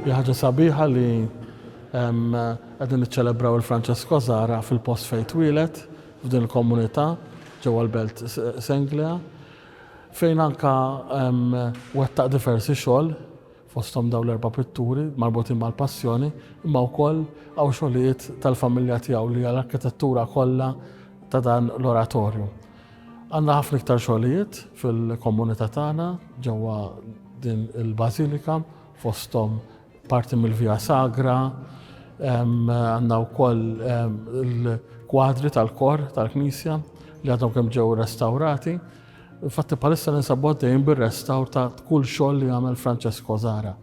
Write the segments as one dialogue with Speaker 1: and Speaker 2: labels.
Speaker 1: Hija ħaġa sabiħa li qegħdin niċċelebraw il-Franċesk Kozara fil-post fejn twieled, f'din il-komunità, ġewwa l-Belt Senglea, fejn anka wettaq diversi xogħol fosthom dawn l-erba' pitturi marbutin mal-Passjoni, imma wkoll hawn xogħlijiet tal-familja tiegħu li hija l-arkitettura kollha ta' dan l-oratorju. Għandna ħafna iktar xogħlijiet fil-komunità tagħna ġewwa din il-Bażilika fosthom parti mill-Via Sagra, għandna wkoll il-kwadri tal-kor tal-Knisja li għadhom kemm ġew restawrati Infatti bħalissa ninsabu għaddejjin bir-restawr ta' kull xogħol li għamel Francesco Zara.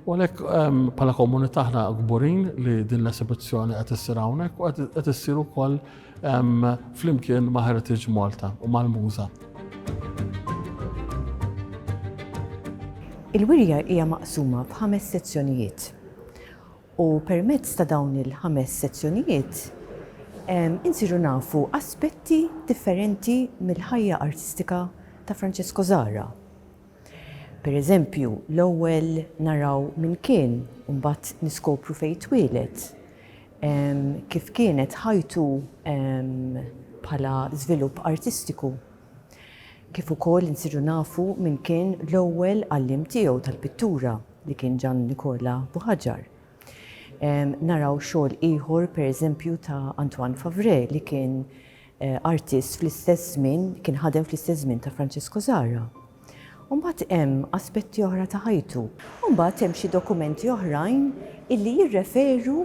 Speaker 1: U għalhekk ehm, bħala komunità aħna kburin li din l-esibizzjoni qed issir hawnhekk u qed issir ukoll ehm, flimkien ma' Heritage Malta u mal-Muża.
Speaker 2: Il-wirja hija maqsuma f'ħames sezzjonijiet. U permezz ta' dawn il-ħames sezzjonijiet insiru nafu aspetti differenti mill-ħajja artistika ta' Francesco Zahra. Per eżempju, l-ewwel naraw min kien u mbagħad niskopru fejn twieled, kif kienet ħajtu bħala żvilupp artistiku. Kif ukoll insiru nafu min kien l-ewwel għalliem tiegħu tal-pittura li kien Gian Nicola Buħaġar. Naraw xogħol ieħor pereżempju ta' Antoine Favre li kien artist fl-istess żmien, kien ħadem fl-istess żmien ta' Francesco Zara. U mbagħad hemm aspetti oħra ta' ħajtu. U mbagħad hemm xi dokumenti oħrajn illi jirreferu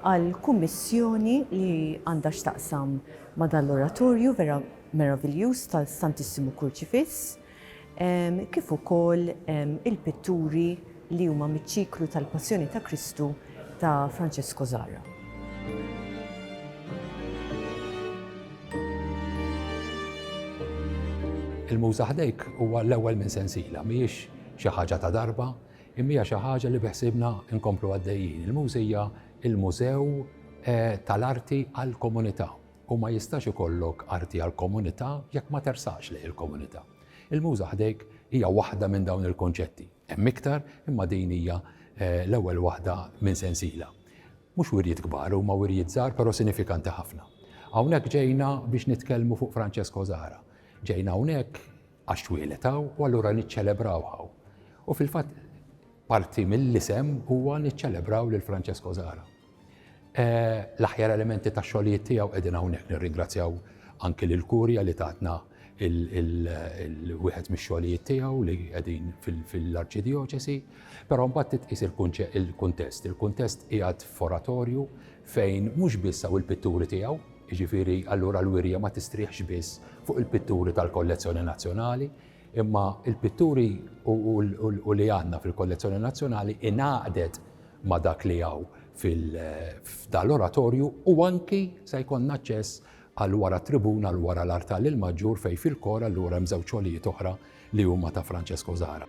Speaker 2: għal kummissjoni li għandha x'taqsam ma' dan l-oratorju vera meraviljuż tal-Santissimo Kurċifiss, kif ukoll il-pitturi li huma miċ-ċiklu tal-Passjoni ta' Kristu ta' Francesco Zahra.
Speaker 3: Il-Muża Ħdejk huwa l-ewwel minn sensiela, mhijiex xi ħaġa ta' darba, imma hija xi ħaġa li beħsiebna nkomplu għaddejjin. Il-Muża hija l-mużew tal-arti għall-komunità. U ma jistax ikollok arti għall-komunità jekk ma tersaqx lejn il-komunità. Il-Muża ħdejk hija waħda minn dawn il-kunċetti. Hemm iktar, imma din hija l-ewwel waħda minn sensiela. Mhux wirjiet kbar, huma wirjiet żgħar però sinifikanti ħafna. Hawnhekk ġejna biex nitkellmu fuq Francesco Zahra. Ġejna hawnhekk għax twieled hawn u allura niċċelebrawh hawn. U fil-fatt parti mill-isem huwa niċċelebraw lil Francesco Zahra. L-aħjar elementi tax-xogħlijiet tiegħu qegħdin hawnhekk. Nirringrazzjaw anki lill-Kurja li tatna wieħed mix-xogħlijiet tiegħu li qegħdin fil-Arċidjoċesi, però mbagħad titqis il-kuntest. Il-kuntest qiegħed f'oratorju fejn mhux biss hawn il-pitturi tiegħu, jiġifieri allura l-wirja ma tistrieħx biss fuq il-pitturi tal-kollezzjoni nazzjonali, Imma l-pitturi u li għandna fil-kollezzjoni nazzjonali ingħaqdet ma' dak li hawn f'dan l-oratorju u anki se jkollna aċċess għal wara t-tribuna l wara l-artal il-maġġur fejn fil-kor allura hemm żewġ xogħlijiet oħra li huma ta' Francesco Zara.